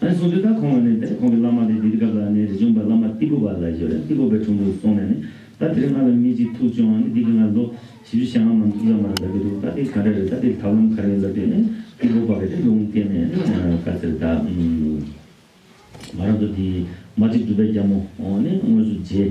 ཨཱ་སོགས་དུས་ད་ཁོང་བ་ནས་དེར་ཁོང་གི་བླ་མ་དེ་དེ་སྐབས་ལ་ནི་རི་ཆུང་པ་བླ་མ་ཏི་པོ་བ་ལ་ཞེས་པ་ཏི་པོ་པའི་དྲུང་དུ་སོང་ནས་ནི་ད་དེར་ང་ལ་མི་གཅིག་ཐུག་བྱུང་ཨང་ནི་འདི་གི་ང་ལོ་བཞི་བཅུ་ཞེ་ལྔ་མམ་བཅུ་ཙམ་མ་ར་འདག་གི་འདུག་ད་དེ་ག་འདྲ་རེད་ད་དེར་ཐབས་ལམ་ག་རེ་ཡོད་འདྲ་དུས་ནི་ཏི་པོ་པ་ག་དེར་ལུང་བསྟན་ནས་ནི་བཀའ་སྩལ་ད་མ་ར་འདུག་དེའི་མ་གཅིག་སྒྲུབ་པའི་རྒྱ་མོ་ནི་དངོས་སུ་མཇལ།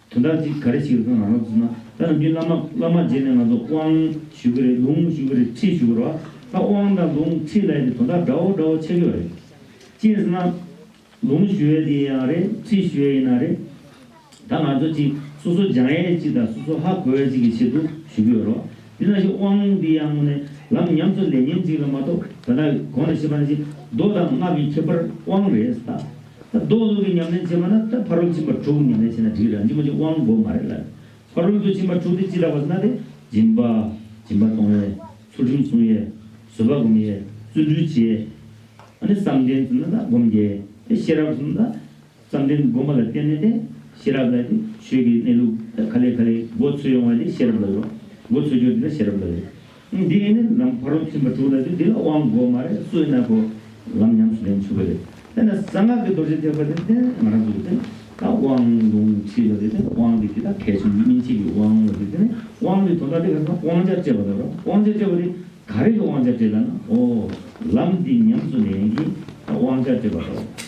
དོན་དག་ཅིག་ག་རེ་ཞིག་རེད་ཁ་ང་རང་ཚོ་ཚང་ད་ནང་རྒྱུན་བླ་མ་བླ་མ་རྗེས་ནས་ང་ཚོ་དབང་ཞུ་གི་རེད་ལུང་ཞུ་གི་རེད་ཁྲིད་ཞུ་གི་རོ་ད་དབང་དང་ལུང་ཁྲིད་ལ་ཡང་དེ་དོན་དག་འདྲ་བོ་འདྲ་བོ་ཆགས་ཀྱི་བ་རེད། ཅི་ཟེར་ན། ལུང་ཞུ་ཡས་དེ་ཡང་རེད་ཁྲིད་ཞུ་ཡས་ཡིན་ན་རེད། ད་ང་ཚོ་ཅིག་སོ་སོ་སྦྱང་ཡས་ཅིག་དང་སོ་སོ་ཧ་གོ་ཡས་ཅིག་གི་ཆེད་དུ་ཞུ་གི་ཡོད་རོ། དེ་ན་ཞིག་དབང་དེ་ཡང་ངོ་ནས་ལམ་ཉམས་སུ་ལེན་ཉེན་ཅིག་ལ་མ་གཏོགས་ད་ལྟ་གོང་ནས་བཤད་པ་ན་ཅིག་མདོ་དང་སྔགས་ཀྱི་ཁྱད་པར་དབང་རེད་ད། རྡོ་ལུག་གི་ཉམས་ལེན་བྱེད་མ་ན་ད་ཕ་རོལ་ཕྱིན་པ་དྲུག་ཉམས་ལེན་བྱེད་ན་འགྲིག་ར་འཇིག་མ་འཇིག་དབང་དགོས་མ་རེད་ལ། ཕ་རོལ་དུ་ཕྱིན་པ་དྲུག་དེ་ཅི་ལྟ་བ་ཟེར་ན་དེ་སྦྱིན་པ། སྦྱིན་པ་གཏོང་ཡས། ཚུལ་ཁྲིམས་སྲུང་ཡས། བཟོད་པ་སྒོམ་ཡས། བརྩོན་འགྲུས་བྱེད་ཡས། ཨ་ནི་བསམ་གཏན་ཟེར་ན་ད་སྒོམ་རྒྱལ་ཡས་དེ་ཤེས་རབ་ཟེར་ན་ད་བསམ་གཏན་སྒོམ་པ་ལ་བརྟེན་ནས་དེ་ཤེས་རབ་ལ་དེ་ཆོས་ཀྱི་གནས་ལུགས་ད་ག་ལེ་ག་ལེ་མགོ་འཚོས་ཡོང་བ་དེ་ཤེས་རབ་ལ་ཡོད་རོགས་མགོ་འཚོས་རྒྱུ་དེ་ད་ཤེས་རབ་ལ་ཡོད། འདི་ནི་ནམ་བར་རོ་ཐིམ་པ་དྲུག་ལ་དུས་འདི་ལ་དབང་བསྒོ་མ་རེག་སུ་ན་གོ། ལམ་ཉམས་སུ་ལེན་ཆུ་བོ་རེག་དེ་ན་གསང་སྔགས་ཀྱི་རྡོ་རྗེ་ཐེག་པ་དེ་ནི་ང་རང་གི་དེ་ད་དབང་ལུང་ཁྲིད་པ་དེ་ནི་དབང་གི་དེ་ད་གལ་ཆེན་གྱི་སྨིན་བྱེད་ཀྱི་དབང་ངོ་དེ་དེ་ནི་དབང་གི་དོ་ན་དེ་ག་ན་དབང་ཆ་སྤྲད་པ་ལ་རོ་དབང་ཆ་སྤྲད་པ་དེ་ག་རེ་གི་དབང་ཆ་སྤྲད་ད་ན་ཨོ། ལམ་འདི་ཉམས་སུ་ལེན་གྱིས་ད་དབང་ཆ་སྤྲད་པ་དང།